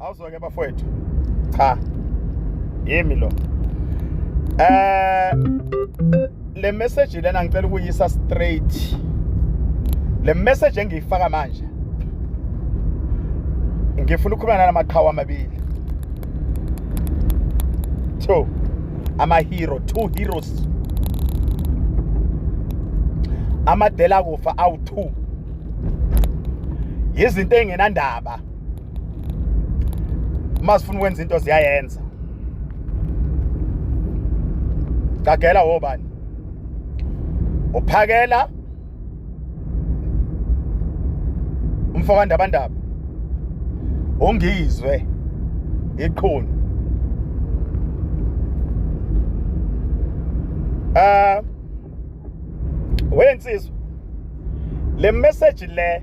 awuzweke bafowethu cha yimi lo eh le message lena ngicela ukuyisa straight le message engiyifaka manje ngifuna ukukhuluma nalamaqhawe amabili two amahero two heroes amadela kufa awu-two yizinto ey'ngenandaba uma sifuna ukwenza into ziyayenza gagela wobani uphakela umfo kandabandaba ungizwe iqhunu eh wensizwa le message le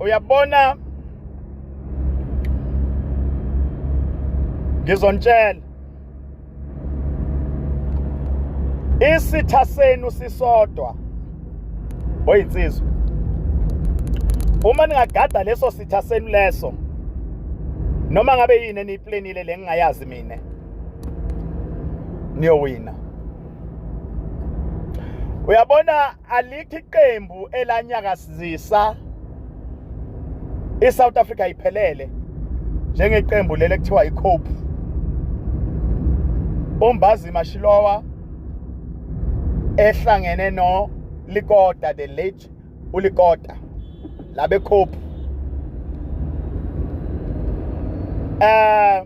uyabona ngizontshela isitha senu sisodwa oyinsizwa uma ningagada leso sitha senu leso noma ngabe yini eniyiplanile le ngingayazi mina niyowina uyabona alikho iqembu elanyakazisa iSouth Africa iphelele njengeqembu leli ekuthiwa iCope uMbazi Mashilowa ehlangene no Likota the late uLikota labe Cope eh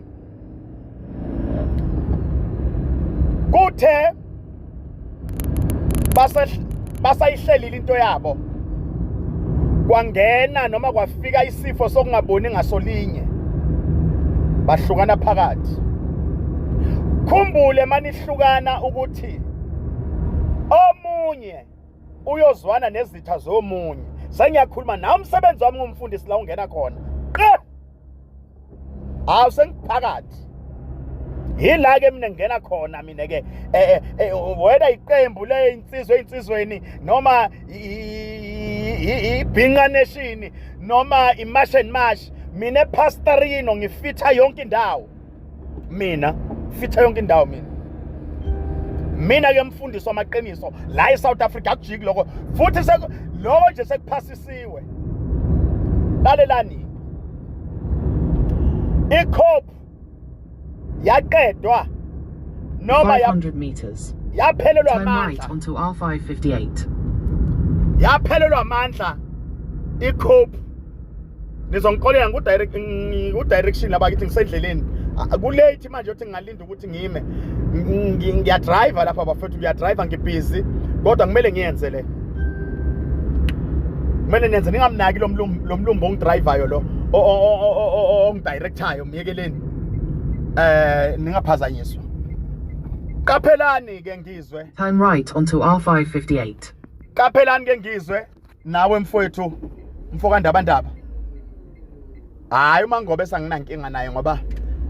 kuthe basayihlelile into yabo kwangena noma kwafika isifo sokungaboni ngasolinye bahlukana phakathi khumbule manihlukana ukuthi omunye uyozwana nezitha zomunye sengiyakhuluma nawe umsebenzi wami ngumfundisi la ungena khona hawu sengiphakathi yila ke mina ngena khona mina ke eh, eh, eh, whether iqembu leyinsizwe einsizweni noma ibhinqa nation noma imash and mash mina pastorino ngifitha yonke indawo mina fitha yonke indawo mina mina ke mfundisi wamaqiniso la eSouth Africa akujiki lokho futhi lokho nje sekuphasisiwe lalelani ikhop yaqedwa noma 500 meters yaphelelwa amandla onto R558 yaphelelwa amandla ikhop nizongixolela ngiku-direction laba kithi ngisendleleni kulate manje yothi ngingalinda ukuthi ngime ngiyadrayiva lapha bafethu ngiyadrayiva ngibhizi kodwa kumele ngiyenze le kumele nenze ningamnaki lo mlumbi ongidrayivayo lo ongidirecthayo myekeleni um ningaphazanyiswa qaphelani-ke ngizwe time right onto r 558 qaphelani-ke ngizwe nawe mfowethu mfokandabandaba hayi uma ngobe sanginankinga naye ngoba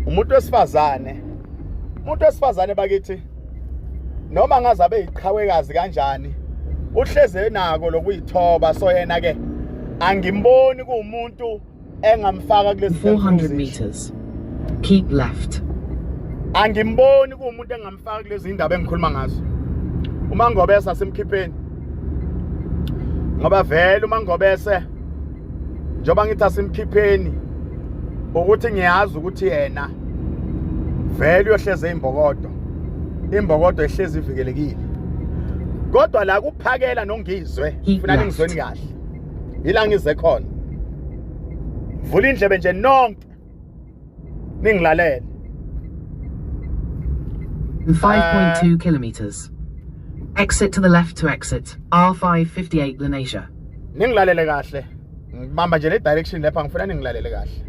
umuntu wesifazane umuntu wesifazane bakithi noma ngaze abe yiqhawekazi kanjani uhleze nako lokuyithoba so yena ke angimboni kuwumuntu engamfaka kulesi 400 meters keep left angimboni kuwumuntu engamfaka kulezi indaba engikhuluma ngazo umangobese asimkhipheni ngoba vele umangobese njengoba ngithi asimkhipheni ukuthi ngiyazi ukuthi yena vele uyohleze imbokodo imbokodo ehlezi ivikelekile kodwa la kuphakela nongizwe ngifuna ningizweni kahle yila ngize khona vula indlebe nje nonke ningilalele 5.2 eh. kilometers exit to the left to exit R558 Lenasia ningilalele kahle ngibamba nje le direction lapha ngifuna ningilalele kahle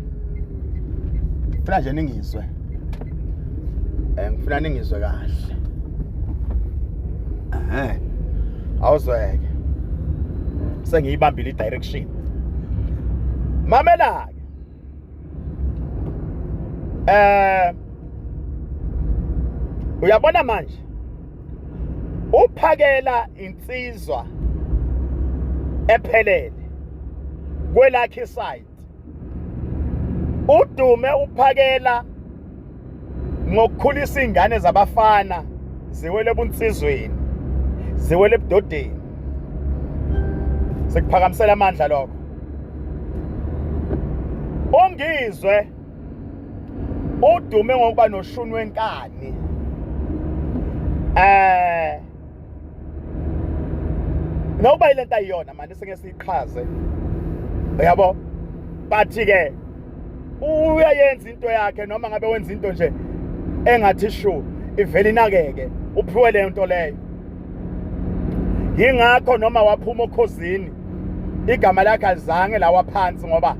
ngifuna nje ningizwe Eh ngifuna ningizwe kahle. Eh. Awuzweke. Sengiyibambile i-direction. Mamela ke. Eh Uyabona manje? Uphakela insizwa ephelele kwelakhe side udume uphakela ngokukhulisa izingane zabafana ziwele ebunsizweni ziwele ebudodeni sikuphakamisela amandla lokho ongizwe udume ngokuba noshuni wenkani eh noba ile nto ayiyona mani singeke siyiqhaze uyabo but-ke uyayenza into yakhe noma ngabe wenza into nje engathi shu ivele inakeke uphiwe leyo nto leyo yingakho noma waphuma okhozini igama lakhe alizange lawa phansi ngoba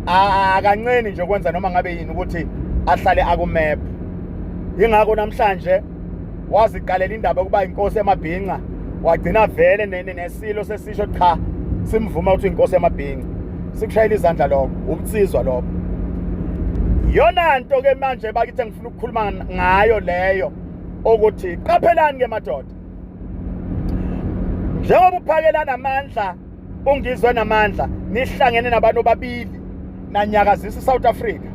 akancini nje ukwenza noma ngabe yini ukuthi ahlale akumephu yingakho namhlanje waziqalela indaba yokuba inkosi yamabhinca wagcina vele nesilo sesisho cha simvuma ukuthi inkosi yamabhinca sikushayela izandla lokho ubunsizwa lokho yona nto ke manje bakithe ngifuna ukukhuluma ngayo leyo ukuthi qaphelani ke madoda njengoba uphakelana amandla ungizwe namandla nihlangene nabantu babili nanyakazisa iSouth Africa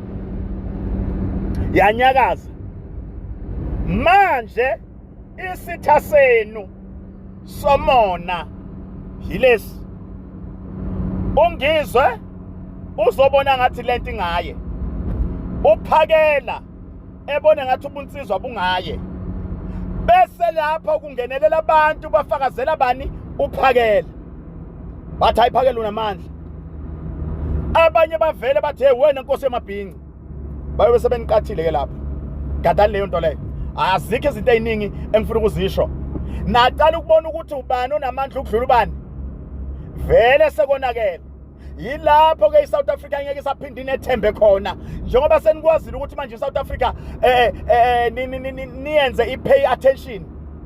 yanyakaza manje isitha senu somona yilesi ungizwe uzobona ngathi lento ingaye uphakela ebone ngathi ubunsizwa bungaye bese lapha ukungenelela abantu bafakazela bani uphakela bathi ayiphakela unamandla abanye bavele bathi hey wena nkosi yamabhinci bayobe sebeniqathile ke lapho gadani leyo nto leyo azikho izinto eziningi engifuna ukuzisho naqala ukubona ukuthi ubani onamandla ukudlula ubani vele sekonakele yilapho ke iSouth Africa ngeke isaphinde inethembe khona njengoba senikwazile ukuthi manje iSouth Africa eh eh niyenze ipay attention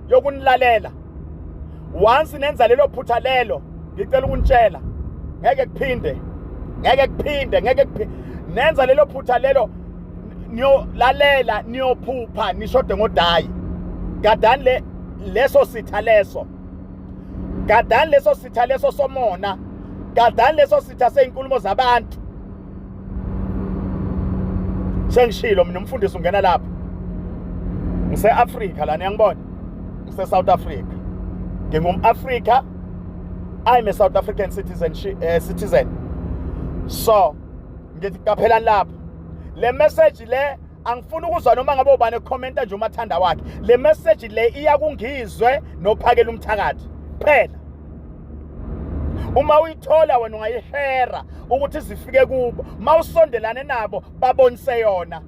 yokunilalela once nenza lelo phutha lelo ngicela ukunitshela ngeke kuphinde ngeke kuphinde ngeke kuphinde nenza lelo phutha lelo niyolalela niyophupha nishode ngodayi gadani le leso sitha leso gadani leso sitha leso somona gadani leso sitha sey'nkulumo zabantu sengishilo mina umfundisi ungena lapho ngise-afrika lana yangibona ngise-south africa ngingum-afrika i'm a south african citizen, uh, citizen. so ngithi qaphelani lapho le message le angifuni ukuzwa noma ngabe ubani ekhomenta nje umathanda wakhe le message le iya kungizwe nophakela umthakathi phela uma uyithola wena ungayishera ukuthi zifike kubo uma usondelane nabo babonise yona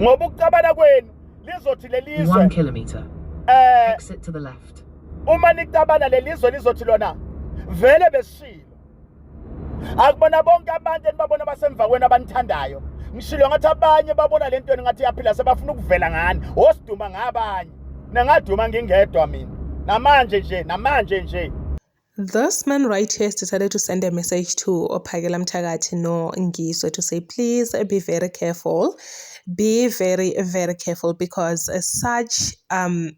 ngoba ukucabana kwenu lizothi lelizwe 1 kilometer eh exit to the left uma nicabana lelizwe lizothi lona vele besishilo akubona bonke abantu enibabona basemva kwenu abanithandayo ngishilo ngathi abanye babona le nto ngathi yaphila sebafuna ukuvela ngani osiduma ngabanye nengaduma ngingedwa mina namanje nje namanje nje This man right here has decided to send a message to Ophakela Mthakathi no Ngizwe to say, please be very careful. Be very, very careful because such um